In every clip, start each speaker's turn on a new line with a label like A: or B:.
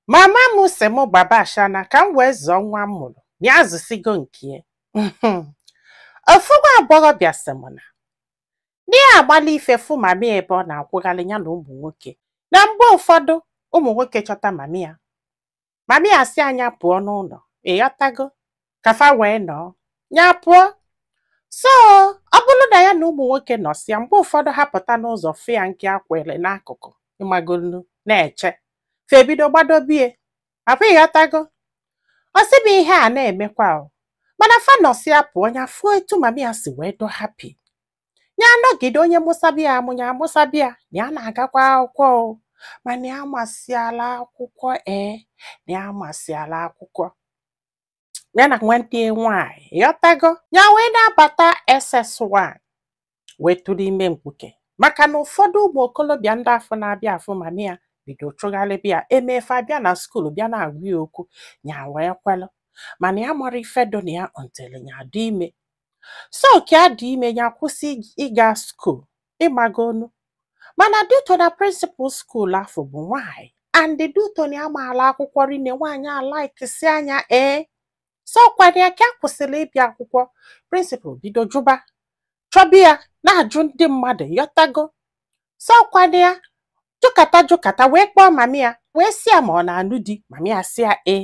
A: Mama m sị m gbaba ashana ka m wee zụọ nwa m mụrụ na ya zụsigo nke ya. Ofu nwa agbọghọbịa sị m na ya agbalị ife fụ mami ya ebe ọ na-akwụgharị ya na ụmụ nwoke na mgbe ụfọdụ ụmụ nwoke chọta mami ya mami ya sị ya nya pụọ n'ụlọ ịghọtago ka fa wee nọọ ya pụọ so ọ bụrụ na ya na ụmụ nwoke nọsịa mgbe ụfọdụ ha pụta n'ụzọ fụ ya nke akwere n'akụkụ ịmagonu na-eche fa ebido gbadobe ya ọkwa ịghọtago ọ sị m ihe a na-emekwa o mana fa nọsịa pụọ ya fụọ etu mami ya si wee dị happy ya anọgide onye mụsaba ya amụ nya amụsaba ya na ya na-agakwa akwụkwọ o mana ya masịala akwụkwọ ee na ya masịala akwụkwọ ya na nwanne ya nwaanyị ịghọtago ya wee na-abata SS1 wee tụrụ ime mkpuke maka na ụfọdụ ụmụ okorobịa ndị afụ na-abịa afụ mami ya bido chụgharịba ya emefe abịa na skuul bịa na-agwa ya okwu ya wee kwelu mana ya amarọ ife dụ na ya until ya dị ime so ka ya dị ime ya kwụsị ig- ịga skuul ịmagonu mana due to na prịnsịpal skuul afụ bụ nwaanyị and due to na ya maala akwụkwọ rinne nwaanyị alaikisia nya ee so ọkwa ya ka ya kwụsịrị ịbịa akwụkwọ prịnsịpal bido jụba chọba ya na-ajụ ndị mmadụ ịghọtago so ọkwa ya jụkata jụkata wee kpọọ mami ya wee sị ya ma ọ na-anụ di mami ya sị ya ee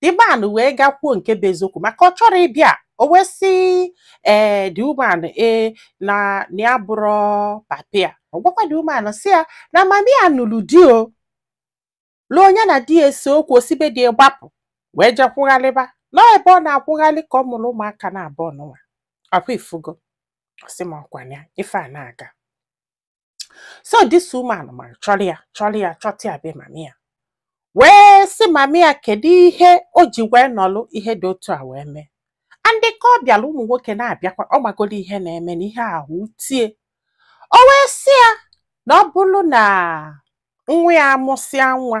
A: The man wee gakwuo nke bụ eziokwu maka ọ chọrọ ịbịa o wee sị ee the woman ee na na ya abụrọ papa ya ọ gwakwa the woman sị ya na mami ya nụrụ di o luo nya na di ya esee okwu o si be di ya gbapụ wee jee kwụgharịba nọọ ebe ọ na-akwụgharị ka ọ mụrụ ụmụaka naabọ nụnwa ọkwa ị fụgo ọ sị m ọkwa ya ife a na-aga so this woman mara chọrọ ya chọrọ ya chọta ya be mami ya wee sị mami ya kedu ihe o ji wee nọlụ ihe dị otu a wee mee and ka ọ bịara ụmụ nwoke na-abịakwa ọ magoro ihe na-eme na ihe ahụ wute ya o wee sị ya na ọ bụrụ na nwa ya amụsịa nwa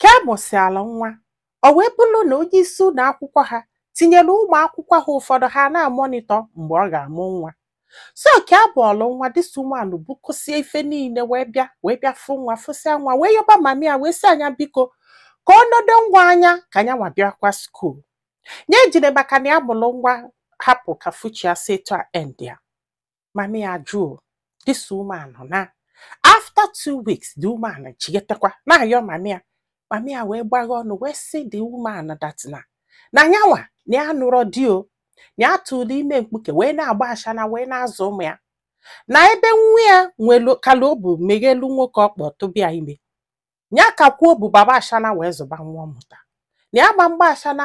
A: ka ya mụsịala nwa o wee bụrụ na onye isi ụlọ akwụkwọ ha tinyere ụmụ akwụkwọ ha ụfọdụ ha na-amonitọ mgbe ọ ga-amụ nwa so ka ya mụọlụ nwa this woman bukọsịa ife niile wee bịa wee bịa fụ nwa fụsịa nwa wee yọba mami ya wee sị ya nya biko ka ọ nedo nwa anya ka nya nwa bịakwa skuul nya ejile maka na ya mụrụ nwa hapụ ka future ya si etu a endịa mami ya jụọ this woman na after two weeks the woman chighetekwa na-ayọ mami ya mami ya wee gbaghe ọnụ wee sị the woman that na na nyanwa na ya anụrọ di o na ya tụrụ ime mkpuke wee na-agba ashana wee na-azụ ụmụ ya na ebe nwa ya nwelu kala obu meghelu nwoke ọkpa tụba ya ime ya kakwuo obu gbaba ashana wee zụba nwa ọ mụta na ya gba mgba ashana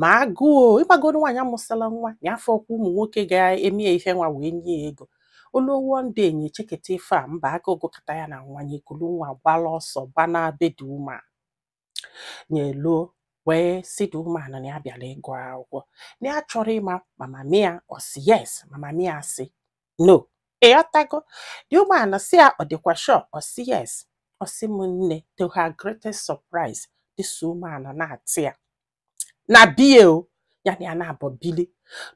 A: ma agụụ ị magonu nwaanyị amụsịla nwa ya afọ ọkwa ụmụ nwoke ga-eme ya ife nwa wee nye ya ego o luo ndị enyi echeketa ife a mba aka ogụkọta ya na nwanye kulu nwa gbala ọsọ gbana be the woman nya eluo wee sị the woman na ya bịara ịgụ akwụkwọ na ya chọrọ ịma ma mami ya ọ sị yes ma mami ya sị no ịghọtago the woman sị ya ọ dịkwa sure ọ sị yes ọ sị m nne to her greatest surprise this woman nata ya na be ya o ya na ya naabọ bili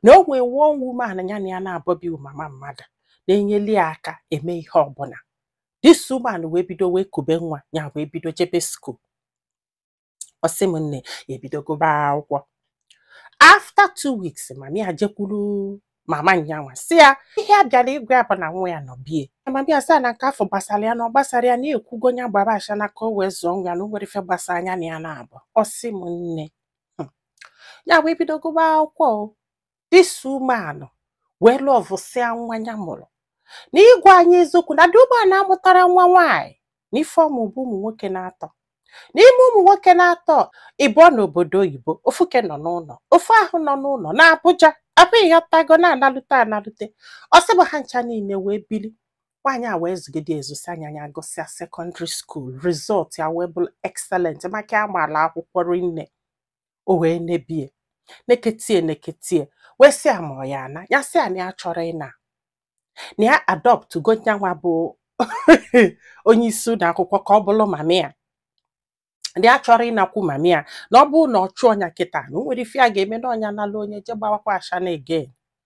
A: na o nwee one woman ya na ya naabọ bi mama mmadụ na-enyeli ya aka eme ihe ọbụla this woman wee bido wee kube nwa ya wee bido jebe school ọ sị m nne ya ebido gụba akwụkwọ after two weeks mami ya jekwuru mama nyanwa sị ya ihe ya bịara ịgwa ya bụ na nwa ya nọ be ya mami ya sị ya na nke afụ gbasara ya na ọ gbasarọ ya na ekwugo ya gbaba ashana ka o wee zụọ nwa ya na o nwerọ ife gbasara nya na ya naabọ ọ sị m nne Hmm, ya wee bido gụba akwụkwọ o this woman wee lọvụsịa nwa ya mụrụ na ịgwa anyị eziokwu na the woman amụtarọ nwa nwaanyị na ife ọ mụ bụ ụmụ nwoke naatọ n'ime ụmụ nwoke naatọ ịbụọ n'obodo oyibo ofu ke nọ n'ụlọ ofu ahụ nọ n'ụlọ na Abuja abụ ịghọtago na-analute analute ọ sị mụ ha ncha niile wee bili nwaanyị a wee zụgide zụsịa nya ya gụsịa secondary school result ya wee bụrụ excellent maka ya maala akwụkwọ rinne o wee nebe ya nekete ya nekete ya wee sị ya ma ọ ya-ana ya sị ya na ya achọrọ ịna na ya adoptgo nyanwa bụ onye isi ụlọ akwụkwọ ka ọ bụrụ mami ya na ya achọrọ ịnakwu mami ya na ọ bụrụ na ọ chụọ nya kịta na o nwerọ ife ya ga-eme na ọ nya nala nya je gbawakwa ashana again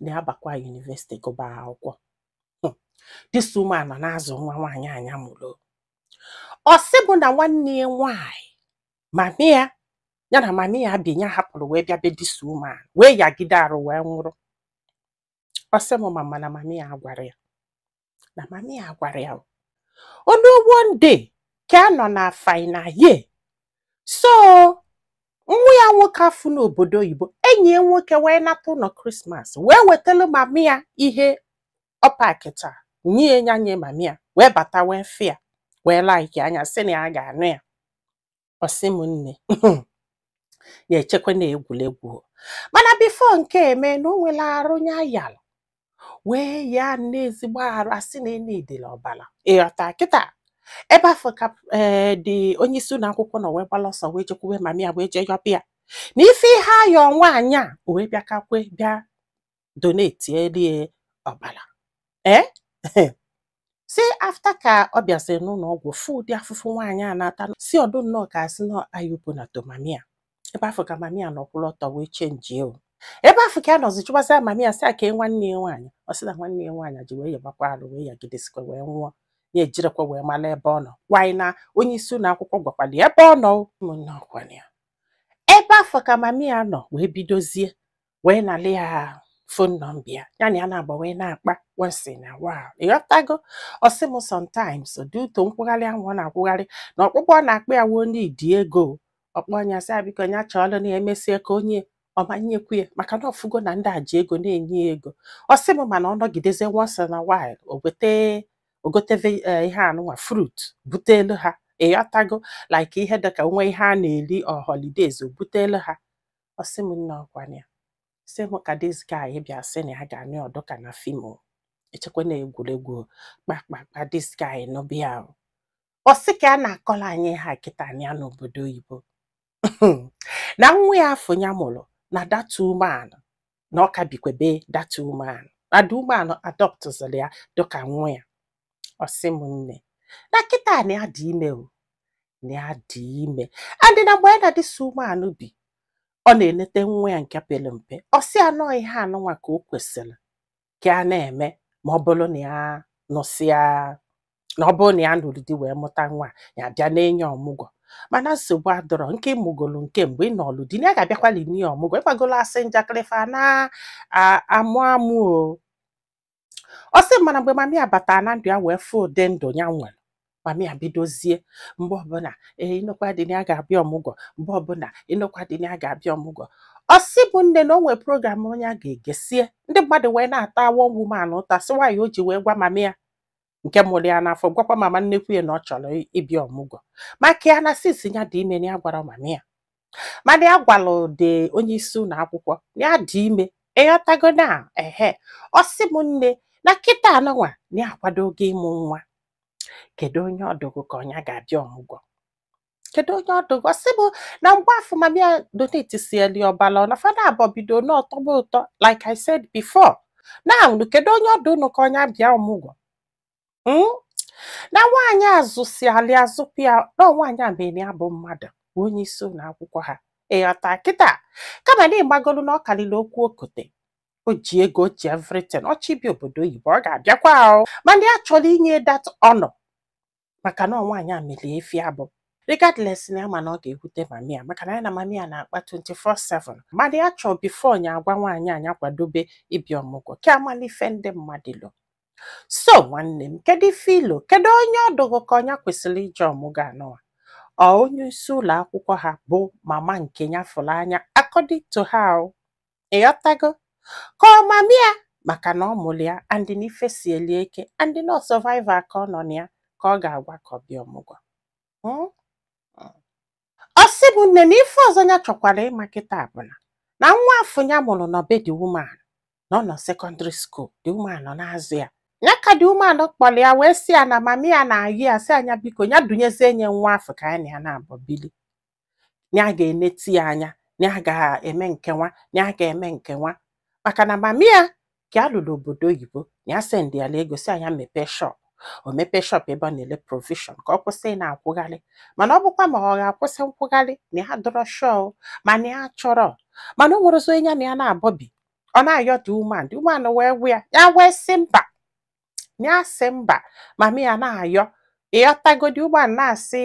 A: na ya bakwa university gụba akwụkwọ Hmm. this woman nọ na-azụ nwa nwaanyị a nya mụrụ ọ sị mụ na nwanne ya nwaanyị mami ya ya na mami ya bi ya hapụrụ wee bịa be this woman wee yagide arụ wee nwụrụ ọ sị m mama na mami ya gwara ya na mami ya gwara ya o luo one day ka a nọ na final year so nwa ya nwoke afụ n'obodo oyibo enyi ya nwoke wee nata ụlọ Christmas wee wetara mami ya ihe ọ pakịta nye ya nye mami ya wee bata wee fụ ya wee likeịa nya sị na ya ga-anụ ya ọ sị m nne ya echekwa na egwuregwu o. mana before nke eme na o nwere arụ nya yalụ wee ya nne ezigbo arụ a sị na e niidili ọbara ịghọta kịta ebe afụ ka ee the onye isi ụlọ akwụkwọ nọ wee gbala ọsọ wee jekwuwe mami ya wee jee yọba ya na ife ihe ayọ nwaanyị a o wee bịa ka kwe bịa donateli ya ọbara ee sị after ka ọ bịasịrị n'ụlọ ọgwụ fụ ụdị afụfụ nwaanyị a na-ata sị ọ dụ nnọọ ka a sị na ayubu na tomamia ebe afụ ka mami ya nọ kwụrụ ọtọ wee chenjie o ebe afụ ka ya nọzi jụbazị mami ya sị ya kee nwanne ya nwaanyị ọ sị na nwanne ya nwaanyị ji wee yabakwa arụ wee yagidesikwa wee nwụọ ya ejirọkwa wee mara ebe ọ nọ gwanyị na onye isi ụlọ akwụkwọ gwakwara ya ebe ọ nọ ụmụnne ọkwanye ya ebe afụ ka mami ya nọ wee bidozie wee nalị ya phone number ya ya na ya na-agba wee na-akpa once in a while ịghọtago ọ sị m sometimes due to nkwụgharị ahụ ọ na-akwụgharị na ọkpụkpọ ọ na-akpọ ya wụ o niidi ego ọ kpọọ nya sị ya biko ya chọọlụ na emesie ka onye ọma nyekwu ya maka na ọ fụgo na ndị a ji ego na-enye ya ego ọ sị m mana ọ nọgideze once in a while o gote o gote ve- eh, ihe anụnwa fruit butelu ha ịghọtago like ihe dịka o nwee ihe a na-eri or holidays o butelu ha ọ sị m nne ọkwa na ya sị m ka this guy bịa sị na ya ga-anụ ya ọ dụ ka na film o. echekwa na egwuregwu o. kpakpakpa this guy nụba ya o. ọ sị ka ya na-akọlụ anyị ha kịta na ya nọ n'obodo oyibo na nwa ya afụ ya mụrụ na that woman na ọ ka bikwe be that woman na the woman adọptụzịrị ya dịka nwa ya ọ sị m nne na kịta na ya dị ime o na ya dị ime and na mgbe ya na this woman bi ọ na-enete nwa ya nke pere mpe ọ sị ya na ọ ihe anụnwa ka o kwesịrị ka ya na-eme ma ọ bụrụ na ya nụsịa na ọ bụrụ na ya nụrụ di wee mụta nwa ya bịa na-ene ya ọmụgwọ mana nsogbu adịrọ nke ị mụgolu nke mgbe ị nụlụ di na ya ga-abịakwali nee ọmụgwọ ịgbagolo asị njakịrị fa ana-amụ amụ o ọ sị mana mgbe mami ya batara na ndụ ya wee fụ ụdị ndụ ya nwere mami ya bidozie mgbe ọbụla ee ị nụkwa di na ya ga-abịa ọmụgwọ mgbe ọbụla ị nụkwa di na ya ga-abịa ọmụgwọ ọ sị m nne na o nwere program onye a ga-egesie ndị mmadụ wee na-ata one woman ụta sị nwaanyị o ji wee gwa mami ya nke mụrụ ya n'afọ gwakwa mama nnekwu ya na ọ chọrọ ị- ịbịa ọmụgwọ maka ya na since ya dị ime na ya agwarọ mami ya mana ya gwalụ the onye isi ụlọ akwụkwọ na ya dị ime ịghọtago na ehe ọ sị m nne na kịta anụnwa na ya akwadogo ịmụ nwa kedu onye ọ dụ gụ ka ọ nya ga-abịa ọmụgwọ kedu onye ọ dụ gụ ọ sị bụ na mgbe afụ mami ya donate sieli ọbala na fa naabọ bidonụ tọba ụtọ like I said before na unu kedu onye ọ dụ unu ka ọ nya bịa ọmụgwọ Mm? na nwaanyị a zụsịalị ya zụpụ ya na nwaanyị a mere ya bụ mmadụ bụ onye isi ụlọ akwụkwọ ha ịghọta kịta kama na ị magolu na ọ karịrị okwu okote o ji ego o ji everything ọ chọ ịbịa obodo oyibo ọ ga-abịakwa ahụ mana ya chọrọ inye that honor maka na nwaanyị a meli ya ife ọ bụ regardless na ya ma na ọ ga-ewute mami ya maka na ya na mami ya na-akpa 24/7 mana ya chọọ before nya agwa nwaanyị a nya kwadobe ịbịa ọmụgwọ ka ya malụ ife ndị mmadụ lo so nwanne m kedu ife i lo kedu onye ọ dụ gụ ka ọ nya kwesịrị ije ọmụgwọ anụwa ọ onye isi ụlọ akwụkwọ ha bụ mama nke ya fụrụ anya according to how ịghọtago ka ọ mami ya maka na ọ mụrụ ya and na ife sieli ike and na ọ survive ka ọ nọ na ya ka ọ ga-agwa ka ọ bịa ọmụgwọ Mm? ọ sị bụ nne na ife ọzọ ya chọkwara ịma kịta bụ na na nwa afụ ya mụrụ nọ be the woman na ọ nọ secondary school the woman nọ na-azụ ya ya ka the woman kpọrọ ya wee sị ya na mami ya na-ayọ ya sị ya nya biko ya dunyezie nya nwa afụ ka ya na ya naabọ bili na ya ga-eneti ya anya na ya ga-eme nke nwa na ya ga-eme nke nwa maka na mami ya ka ya luru obodo oyibo na ya sendị ya ego sị ya nya mepee shop o mepee shop ebe ọ na-ele provision ka ọ kwụsị ị na-akwụgharị mana ọ bụkwa ma ọ ga-akwụsị nkwụgharị na ya adịrọ sure mana ya chọrọ mana o nwerọzi onye ya na ya naabọ bi ọ na-ayọ the woman the woman wee gwa ya ya wee sị mba ya sị mba mami ya na-ayọ ịghọtago the woman na-asị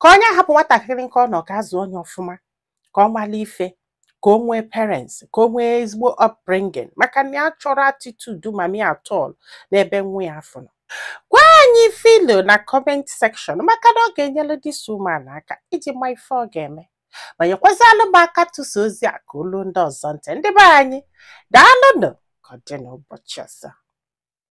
A: ka ọ nya hapụ nwatakịrị nke ọ nọ ka a zụọ nya ọfụma ka ọ mara ife ka o nwee parents ka o nwee ezigbo upbringing maka na ya achọrọ attitude mami ya at all n'ebe nwa ya afụ nọ gwa anyị ife i lo na comment section maka na ọ ga-enyere this woman aka iji ma ife ọ ga-eme ma nyekwazalụ m aka tụsa ozi a ka o lu ndị ọzọ ntị ndị be anyị daalụnụ ka ọ dị n'ụbọchị ọzọ